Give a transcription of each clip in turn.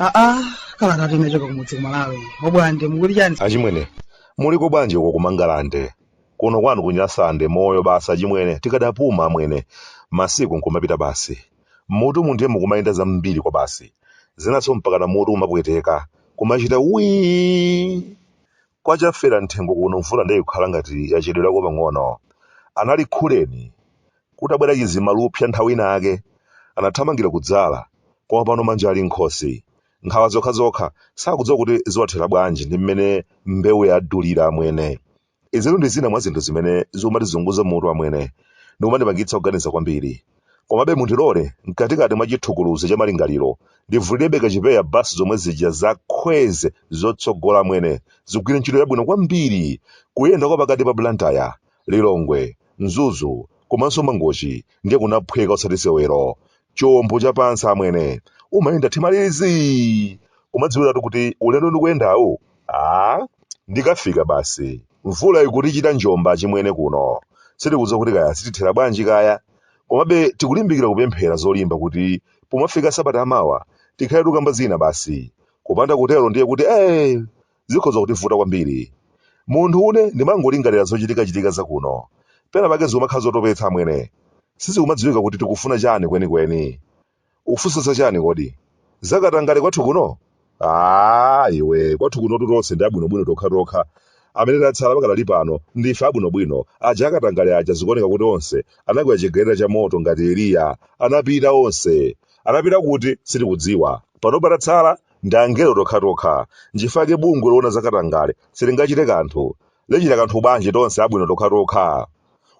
aa kala tati inachoka kumudzi kumalawi obwande mukuti chani achimwene muliko bwanji uko kumangalande kuno kwanu kunyasande moyo basi achimwene tikadapuma amwene masiku nkumapita basi Mmutumu ndiye mukumayenda zambiri kwabasi. Zinanso mpakana mutu umapweteka, kumachita wiiii! Kwa Chafera mthengo kuno mvula ndiye ikukhala ngati yachedwerako pang'ono. Anali khuleni. Kutabwera chizimalupsa nthawi inayake, anathamangira kudzala, koma pano manja ali m'nkhosi. Nkhawa zokhazokha, sakudziwa kuti ziwathera bwanji ndi mmene mbewu yadulira amwene. Izitu ndi zina mwa zinthu zimene zikumatizunguza mutu amwene, ndi kumandipangitsa kuganiza kwambiri. Komabe mundilole, mkatikati mwa chithukuluzi cha malingaliro, ndivulirebe kachipeya basi zomwe zija za Kwezy zotsogola amwene, zigwire ntchito yabwino kwambiri kuyenda kwa pakati pa Blantyre, Lilongwe, Mzuzu, komanso Mangochi ndiye kunaphweka osati sewero. Chombo cha pansi amwene, umayenda thimalizi! Kumadziwiratu kuti ulendo ndikuyendawu Ah, ndikafika basi. Mvula ikutichita njomba chimwene kuno. Sitikudziwa kuti kaya zitithera bwanji kaya. Komabe tikulimbikira kupemphera zolimba kuti pomafika sabata amawa tikhale tukamba zina basi. Kupanda kutero ndiye kuti eh zikhoza kutivuta kwambiri. Munthu une ndimangolingalira zochitikachitika za kuno. Pena pake zikumakhala zotopetsa amwene. Sizikumadziwika kuti tikufuna chani kwenikweni. Ukufunsa za chani kodi? Za katangale kwathu kuno? Aaa iwe, kwathu kunotu tonse ndi abwinobwino tokhatokha. Amene tatsala pakadali pano ndife abwinobwino. Aja akatangale aja zikuoneka kuti onse anakwera chigaleta cha moto ngati Eliya. Anapita onse. Anapita kuti? Sitikudziwa. Panopa patatsala ndi angelo tokhatokha. Nchifukwa chake bungwe loona za katangale silingachite kanthu. Lichita kanthu bwanji tonse abwino tokhatokha?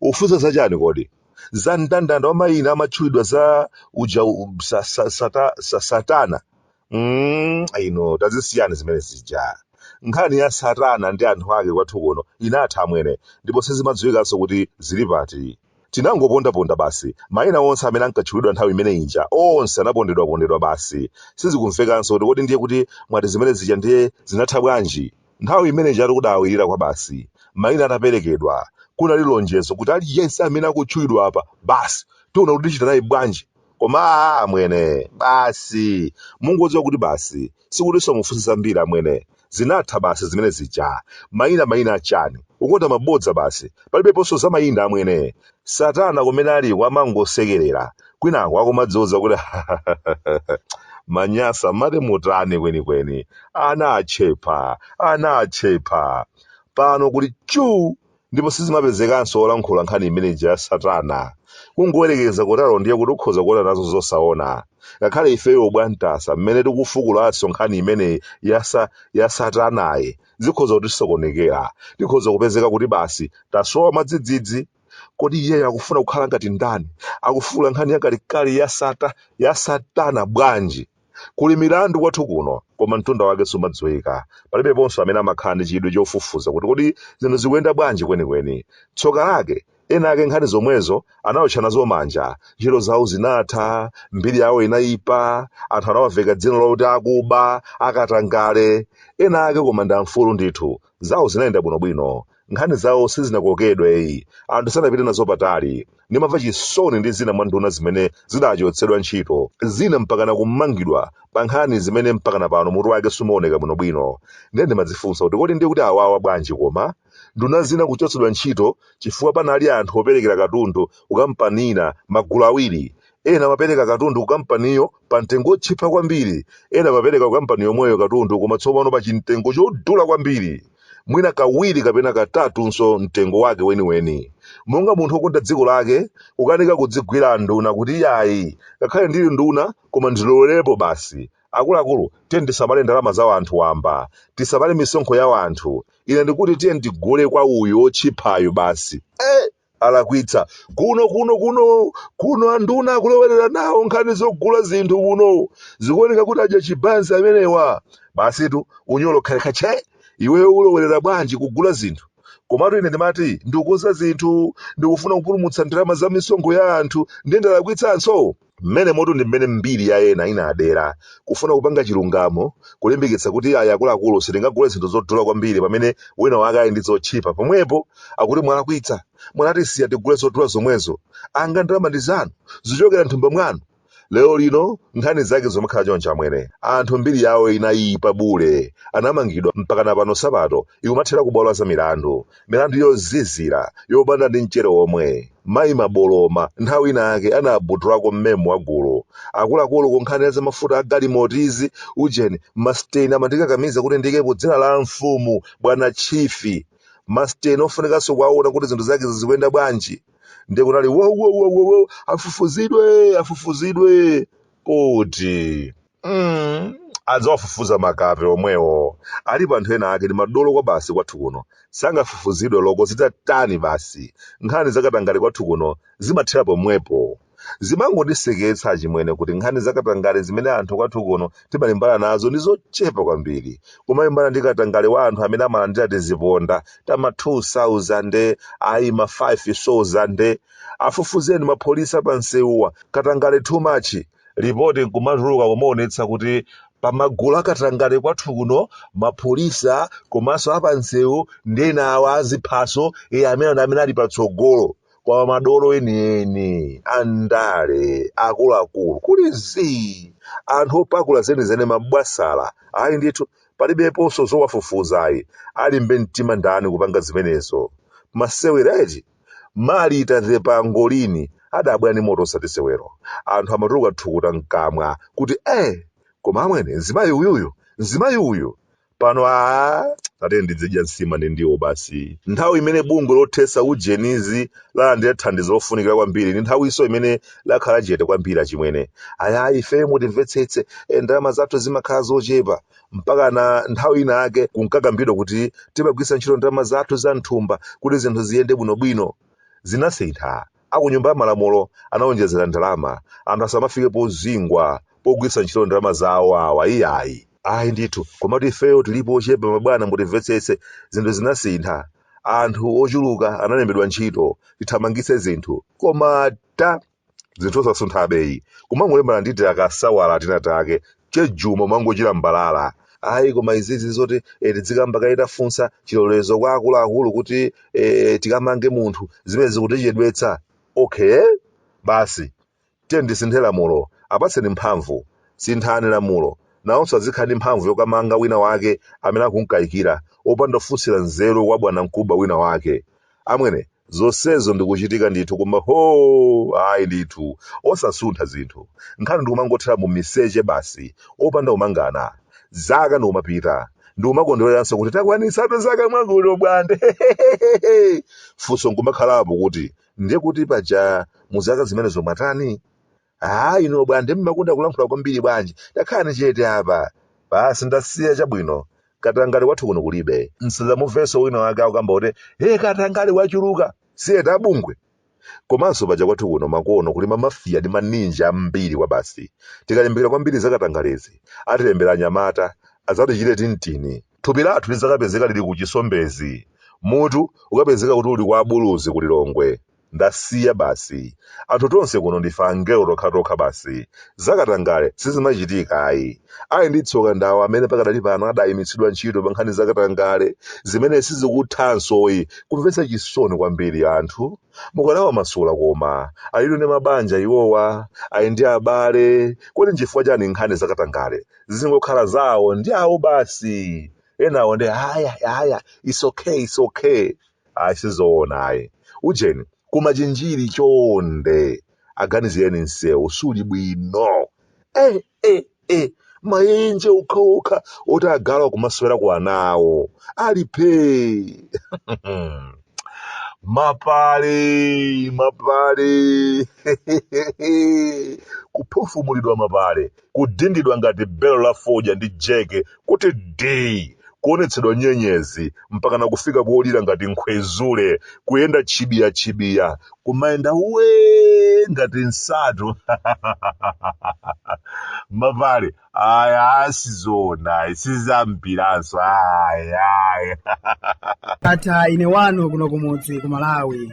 Ukufunsa za chani kodi? za mndandanda wa mayina amatchulidwa za uja u- sa, sa, sata, sa, satana mm, inu tazisiyani zimene zija nkhani ya satana ndi anthu ake kwathu kuno inatha amwene ndipo sizimadziwikanso kuti zili pati tinangopondaponda basi mayina onse amene ankatchulidwa nthawi imene inja onse anapondedwapondedwa basi sizikumvekanso kuti kodi ndiye kuti mwati zimene zija ndiye zinatha bwanji Nthawi imene ija tikudabwirira kwabasi, maina ataperekedwa, kunali lonjezo kuti aliyense amene akutchulidwa apa, basi, tiona kuti tichita naye bwanji. Koma a, amwene, basi, mungodziwa kuti basi, sikutinso mufunse zambiri, amwene. Zinatha basi zimene zija. Maina, maina a chani? Ukonda mabodza basi. Palibeponso za maina, amwene. Satana kumene aliko amangosekerera kwinaku akumadziuza kuti Manyasa mmati mutani kwenikweni ana achepa ana achepa pano kuli chuu ndipo sizimapezekanso olankhula nkhani imene ija ya satana kungoyerekeza kutero ndiye kuti ukhoza kuona nazo zosaona ngakhale ifeyo ubwantasa mmene tikufukulanso nkhani imeneyi yasa ya satanayi zikhoza kutisokonekera tikhoza kupezeka kuti basi tasowa mwadzidzidzi kodi iyeyo akufuna kukhala ngati ndani akufuula nkhani yakalekale ya satana bwanji kuli milandu kwathu kuno koma mtunda wake sumadziwika palibeponso amene amakhala ndi chidwi chofufuza kuti kodi zinthu zikuyenda bwanji kwenikweni tsoka lake ena ake nkhani zomwezo anaotcha nazo manja ntchito zawo zinatha mbiri yawo inayipa anthu anawaveka dzina loti akuba akatangale ena ake koma ndi amfulu ndithu zawo zinayenda bwinobwino nkhani zawo sizinakokedweyi anthu sanapite nazo patali ndimamva chisoni ndi zina mwa nduna zimene zidachotsedwa ntchito zina mpakana kumangidwa pa nkhani zimene mpakana pano mutu wake sumaoneka bwinobwino ndiye ndimadzifunsa kuti kodi ndiye kuti awawa bwanji koma Nduna zina kuchotsedwa ntchito chifukwa panali anthu operekera katundu kukampani ina magulu awiri, ena amapereka katundu kukampaniyo pamtengo wotchipa kwambiri, ena amapereka kukampani yomweyo katundu koma tsopano pa chimtengo chodula kwambiri, mwina kawiri kapena katatunso mtengo wake weniweni. Monga munthu wokonda dziko lake, kukanika kudzigwira nduna kuti iyayi, ngakhale ndili nduna koma ndilowererepo basi. Akuluakulu, tiyeni tisamale ndalama za wanthu wamba, tisamale misonkho ya wanthu, ine ndikuti tiye ndigule kwa uyu otchiphayu basi eh, alakwitsa kuno kuno kuno kuno anduna akulowerera nawo nkhani zogula zinthu kuno zikuoneka kuti adya chibanzi amenewa basitu unyolo khalekhache iweyo ulowerera bwanji kugula zinthu komatu ine ndimati ndikukonza zinthu ndikufuna kupulumutsa ndalama za misonkho ya anthu ndiye ndalakwitsanso Mmenemotu ndi mmene mbiri ya ena inadera, kufuna kupanga chilungamo, kulimbikitsa kuti ayi akuluakulu sitingagule zinthu zodula kwambiri pamene wina wake ali ndi zotchipa pomwepo akuti mwalakwitsa, mwanatisiya tigule zodula zomwezo, anga ndalama ndi zanu, zichokera m'thumba mwanu. Lero lino nkhani zake zikumakhala choncho amwene. Anthu mbiri yawo inayipa bule, anamangidwa mpakana pano sapato ikumathera kubwalo la zamilandu. milandu yozizira, yopanda ndi mchere womwe. Mayi Buluma nthawi ina yake anabudulako mmemo wa gulu. Akuluakulu ku nkhani ya zamafuta a galimotizi, ujeni, masteni amandikakamiza kuti ndiikepo dzina la amfumu, bwana Chief. Masteni ofunikanso kuwaona kuti zinthu zake zizikuyenda bwanji. Ndiye kunali wowowowowo afufuzidwe afufuzidwe. Kuti. mm, adzawafufuza makape omwewo alipo anthu ena ake ndi madolo kwabasi kwathu kuno sangafufuzidwe loko zitatani basi nkhani zakatangale kwathu kuno zimathera pomwepo zimangondiseketsa achimwene kuti nkhani zakatangale zimene anthu kwathu kuno timalimbana nazo ndi zochepa kwambiri kumalimbana ndi katangale wa anthu amene amalandira tiziponda tama 2000 ayi ma 5000 afufuzeni mapolisi apansewuwa katangale too much lipoti nkumatuluka kumaonetsa kuti pamagulu akatangale kwathu kuno mapolisa komanso apansewu ndi ena awa a ziphaso iye amene ndi amene ali patsogolo kwa madolo enieni andale akuluakulu kuli zii anthu opakula zenizeni mabwasala ayi ndithu palibeponso zowafufuzayi alimbe mtima ndani kupanga zimenezo masewera eti Malita wa Pangolini adabwera ndi moto osati sewero. Anthu amatuluka thukuta mkamwa kuti eh! Koma amwene mzimayi uyuyu, mzimayi uyu! Pano aah! Tatiyeni tidzidya nsima ndi ndiwo basi. Nthawi imene bungwe lothetsa ujenizi lalandira thandizo lofunikira kwambiri ndi nthawinso imene lakhala chete kwambiri achimwene. Ayi ayi ife mutimvetsetse, eh ndalama zathu zimakhala zochepa. mpaka na nthawi inake kunkakambidwa kuti timagwiritsa ntchito ndalama zathu za mthumba kuti zinthu ziyende bwinobwino zinasintha akunyumba ya malamulo anawonjezera ndalama anthu asamafike pozingwa pogwiritsa ntchito ndalama zawo awa iyayi ayi ndithu komatu ifeyo tilipo ochepa mabwana mutimvetsetse zinthu zinasintha anthu ochuluka analembedwa ntchito tithamangitse zinthu koma ta zinthu osasunthabe iyi kumangolimbana ndi tiakasawala tina take chejuma kumangotchila mbalala ayi koma izizi zoti eh, tidzikamba kaye tafunsa chilolezo kwa akuluakulu kuti eh, tikamange munthu zimene zikutichedwetsa okay basi tiyeni tisinthe lamulo apatseni mphamvu sinthani lamulo nawonso azikhala ndi mphamvu yokamanga wina wake amene akumukayikira opanda kufunsira nzeru kwa bwanamkubwa wina wake amwene zonsezo ndikuchitika ndithu koma hoo ayi ndithu osasuntha zinthu nkhani ndikumangothera mu miseche basi opanda kumangana zaka ndikumapita ndikumakondwereranso kuti takwanitsa zaka mwakuti Bwande funso nkumakhalapo kuti ndiye kuti paja mu zaka zimenezo mwatani Ah, inu a Bwande mumakonda kulankhula kwambiri bwanji? Takhalani chete apa. Basi ndasiya chabwino. Katangale kwathu kuno kulibe. Msadzamuvenso wina wake akukamba kuti, hey katangale wachuluka. Si eti abungwe? Komanso paja kwathu kuno makono kuli mamafiya ndi maninja ambiri kwabasi. Tikalimbikira kwambiri za katangalezi, atilembera anyamata, adzatichite tintini. Thupi lathu lidzakapezeka lili ku Chisombezi. Mutu ukapezeka kuti uli kwa abuluzi ku Lilongwe. Ndasiya basi. Anthu tonse kuno ndife angelo tokhatokha basi. Zakatangale sizimachitika ayi. Ali ndi tsoka ndi awo amene pakadali pano adayimitsidwa ntchito pankhani za katangale zimene sizikuthansoyi. Kumvetsa chisoni kwambiri anthu. Mukanawamasula koma. Alitu ndi mabanja iwowa. Ali ndi abale. Kodi n'chifukwa chani nkhani za katangale zizingokhala za awo ndi awo basi? Enawo nde aya aya it's okay it's okay. ayi sizoona ayi ujeni kumachinjiri chonde aganizireni msewu suli bwino eh, eh, eh. maenje okhaokha oti agalu kumaswera kwanawo ali phee mapale mapale kuphofumulidwa mapale kudindidwa ngati belo la fodya ndi jeke kuti dii, kuonetsedwa nyenyezi mpakana kufika kolira ngati nkhwezule, kuyenda tchibiya-tchibiya, kumayenda wee ngati nsatu mapale aya sizoonayi sizampiranso ayayi Ndatha ine wanu kuno kumudzi ku Malawi.